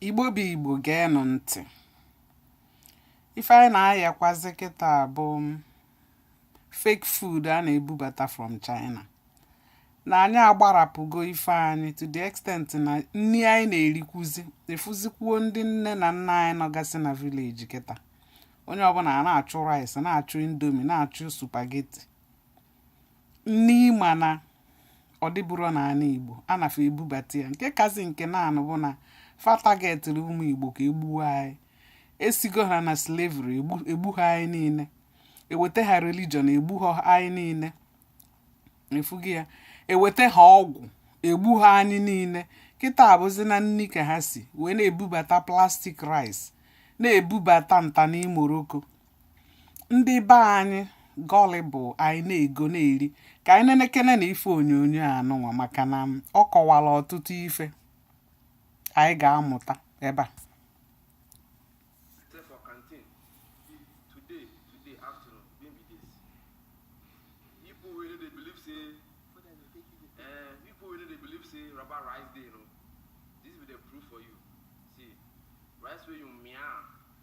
igbo bụ igbo geenụ ntị ife anyị na-ayakwazi kịta bụ fake food a na-ebubata from China na anyị agbarapụgo ife anyị to the extent na nri anyị na-erikwuzi efuzikwuo ndị nne na nna anyị nọgasị na village kịta onye ọbụla na-achụ rice na-achụ indomie na-achụ spaghetti nni ị ma na ọ dịbụrọ n'ala Igbo a na fa ebubata ya nke kazi nke na-anụ bụ na fa targetịrị ụmụ Igbo ka e gbuo anyị esigo ha na slavery egbuho anyị niile eweta ha religion egbuho anyị niile ị fụgo ya eweta ha ọgwụ egbuho anyị niile kịta ọ bụzi na nri ka ha si wee na-ebubata plastic rice na-ebubata nta n'imoroko ndị be anyị gullible anyị na-ego na-eri ka anyị nenekene na ife onyonyo anụnwa maka na ọ kọwara ọtụtụ ife anyị ga-amụta ebe a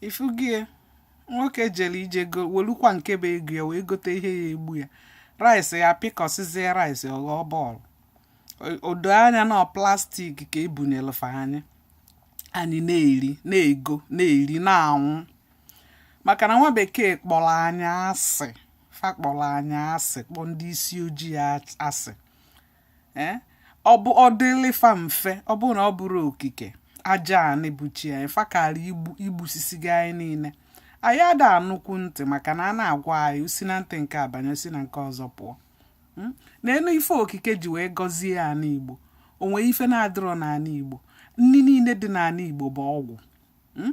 ifugie nwoke jere ije welukwa nke bụ ego ya wee gote ihe ya-egbu ya rice ya pịkọsịzie rice ọ ghọọ ball o doo anya na plastic ka ebunyelụ fa anyị anyị na-eri na-ego na-eri na-anwụ maka na nwa bekee kpọrọ anyị asị fa kpọrọ anyị asị kpọ ndị isi ojii asị eh, ọ bụ ọ dịlị fa mfe ọ bụrụ na ọ bụrọ okike aja anị bụ chi anyị fa kara igbusisigo anyị niile anyị ada anụkwu ntị maka na a na-agwa anyị o si na ntị nke a banye si na nke ọzọ pụọ hmm? n'elu ife okike ji wee gọzie ana igbo o nwe ife na-adịrọ n'ala igbo nri niile dị n'ala igbo bụ ọgwụ hmm?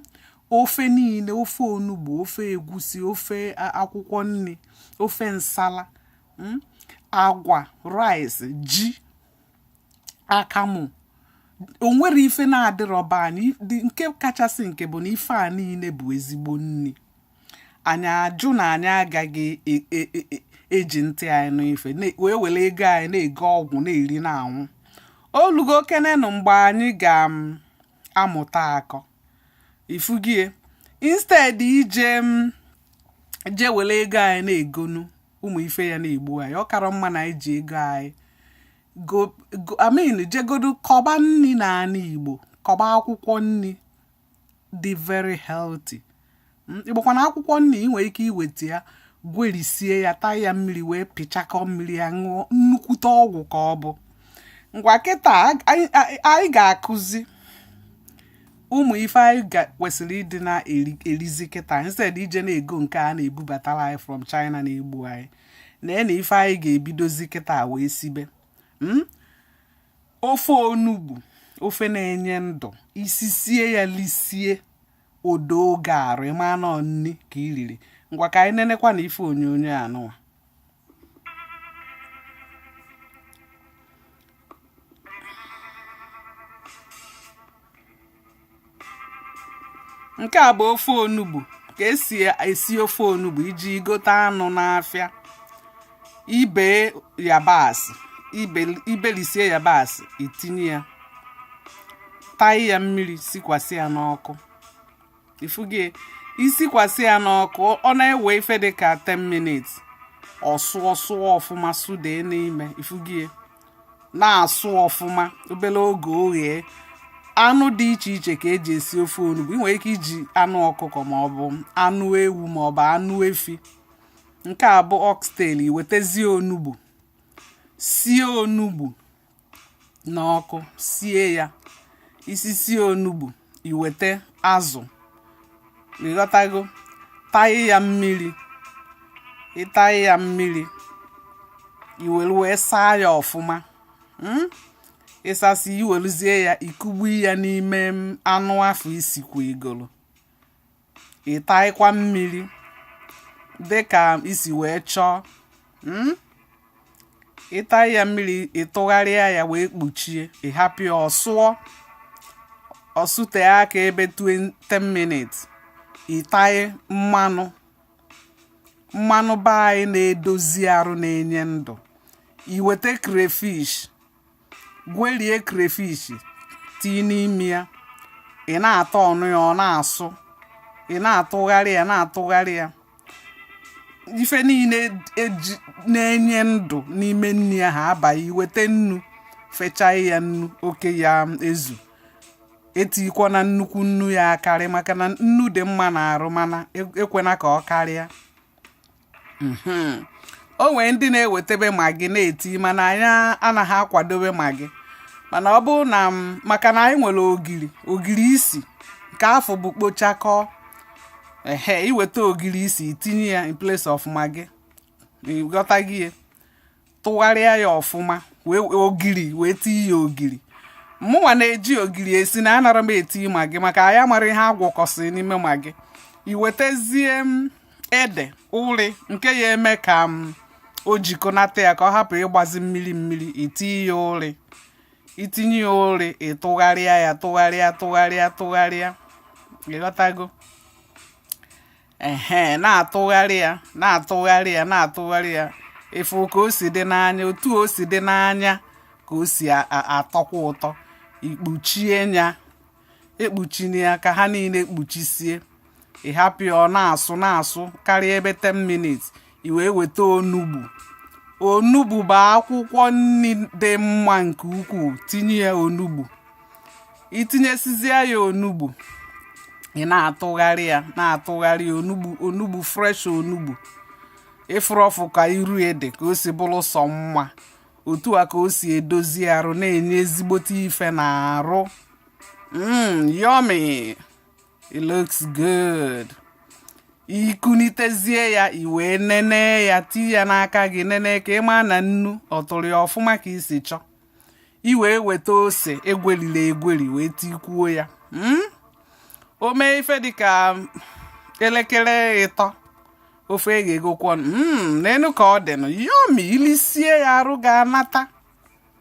ofe niile ofe onugbu ofe egwusi ofe akwụkwọ nri ofe nsala hmm? agwa rice ji akamụ o nwere ife na-adịrọ be anyị nke kachasị nke bụ na ife a niile bụ ezigbo nri anyị ajụ na anyị agaghị e, e, e, eji ntị anyị n'ife wee were ego anyị na-ego ọgwụ na-eri na-anwụ o lugo kenenụ mgbe anyị ga-amụta akọ ifugie instead ije je were ego anyị na-egonu ụmụ ife ya na-egbu anyị ọ kara mma na anyị ji ego anyị I mean jegodu kọba nni na anị igbo kọba akwụkwọ nni dị very healthy hmm, ị makwa na akwụkwọ nni ị nwere ike iweta ya gwerisie ya taị ya mmiri wee pịchakọ mmiri ya ṅụọ nnukwute ọgwụ ka ọ bụ ngwa kịta anyị ga-akụzi ụmụ ife anyị ga- kwesịrị ịdị na-erizi kịta instead ije na-ego nke a na-ebubatara anyị from china na-egbu anyị nenee ife anyị ga-ebidozi kịta wee sibe Mm? ofe onugbu ofe na-enye ndụ i sisie ya lisie o doo gị arụ ị ma na ọ nni ka i riri ngwa ka anyị nenekwa na ife onyonyo anụwa nke a bụ ofe onugbu ka esi esi ofe onugbu i jee gote anụ n'afịa ibe yabasị ibe- ibelisie yabasị itinye ya taị ya mmiri sikwasị ya n'ọkụ ifugie isikwasị ya n'ọkụ ọ na-ewe ife dị ka 10 minutes ọsụ ọsụ ọfụma sụda n'ime ifugie na-asụ ọfụma obere oge oghee anụ dị iche iche ka eji esi ofe onugbu ị nwere ike iji anụ ọkụkọ ma ọ bụ anụ ewu ma ọ bụ anụ efi nke a bụ oxtail iwetezie onugbu sie onugbu n'ọkụ sie ya i sisie onugbu iwete azụ ịghọtago taị ya mmiri ịtaị ya mmiri iwere wee saa ya ọfụma hmm? ịsasị iweluzie ya ikugbu ya n'ime anụ afụ isikwa igolo ịtaịkwa mmiri dị ka isi wee chọọ hmm? ịtaị ya mmiri ịtụgharịa ya wee kpuchie ịhapụ ya ọsụọ ọsụte aka ebe 20 minutes ịtaị mmanụ mmanụ be anyị na-edozi arụ na-enye ndụ iweta crayfish gwerie crayfish tii n'ime ya ị na-ata ọnụ ya ọ na-asụ ị na-atụgharị ya na-atụgharị ya ife niile na-enye ndụ n'ime nri ahụ abaa iwete nnu fechaa ya nnu nke ga-ezu etikwana nnukwu nnu ya akarị maka na nnu dị mma na arụ mana e, ekwena ka ọ karịa mhm. o nwere ndị na-ewetebe magi na-eti mana anyị anaghị akwadobe magi mana ọ bụ na maka na anyị nwere ogiri ogiri isi nke afụ bụ kpochakọ ehe iweta ogiri isi itinye ya in place of magi ịghọtago ihe tụgharịa ya ọfụma wee ogiri wee tinye ya ogiri mụnwa na-eji ogiri esi na anarọ m eti magi maka anyị amarọ ihe agwọkọsịrị n'ime magi iwetezie ede uri nke ya eme ka o jikọnata ya ka ọ hapụ ịgbazi mmiri mmiri itinye ya uri itinye ya uri ịtụgharịa ya tụgharịa tụgharịa tụgharịa ịghọtago ehe na-atụgharị ya na-atụgharị ya na-atụgharị ya ịfụ ka o si dị n'anya otu o si dị n'anya ka o si atọkwa ụtọ ikpuchie ya ekpuchina ya ka ha niile kpuchisie ịhapụ ya ọ na-asụ na-asụ karịa ebe 10 minutes i wee weta onugbu onugbu bụ akwụkwọ nri dị mma nke ukwuu tinye ya onugbu itinyesizie ya onugbu ị na-atụgharị ya na-atụgharị ya onugbu onugbu fresh onugbu ịfụrụ ọfụ ka iru ya dị ka o si bụrụ sọ mma otu a ka o si edozi arụ na-enye ezigbote ife n'arụ mm, yummy it looks good ikunitezie ya iwee nene ya tii ya n'aka gị nene ka ịma na nnu ọ tụrụ ya ọfụma ka isi chọọ iwee weta ose egwerila egweri wee tikwuo ya hmm? o mee ife dịka elekere ịtọ ofe eghegokwanụ hmm, nenụ ka ọ dịnụ yummy ilisie ya arụ ga-anata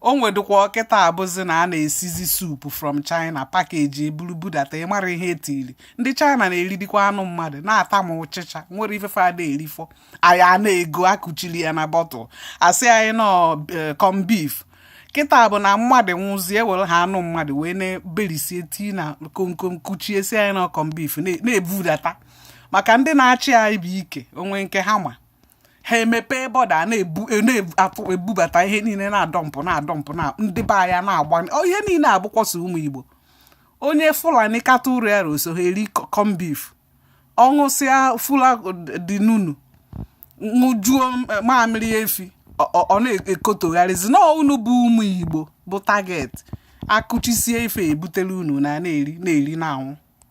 o nwedịkwa kịta abụzi na a na-esizi soup from china package eburu budata ịmarọ ihe etiri ndị china na-eridikwa anụ mmadụ na-ata ma ụchịcha nwerọ ife fa na-erifọ anyị a na-ego akụchiri ya na bottle asị anyị na ọ corn eh, beef kịta bụ na mmadụ nwụzie were ha anụ mmadụ wee na-eberisie tii na komkom kụchie sị anyị na ọ corn beef na-ebudata maka ndị na-achị anyị bụ nke onwe ha ka ha ma ha emepee border a na-ebubata ihe niile na-adọmpụ na-adọmpụ na ndị be anyị na-agba ihe niile awụkwasị ụmụ igbo onye fulani kata ụrụ yarọ eso ha eri corn beef ọṅụsịa fura de nunu ṅụjuo mamịrị efi ọ na-ekotogharịzi na unu bụ ụmụ igbo bụ target akụchisie ife ebutere unu unu na-eri na-eri na-anwụ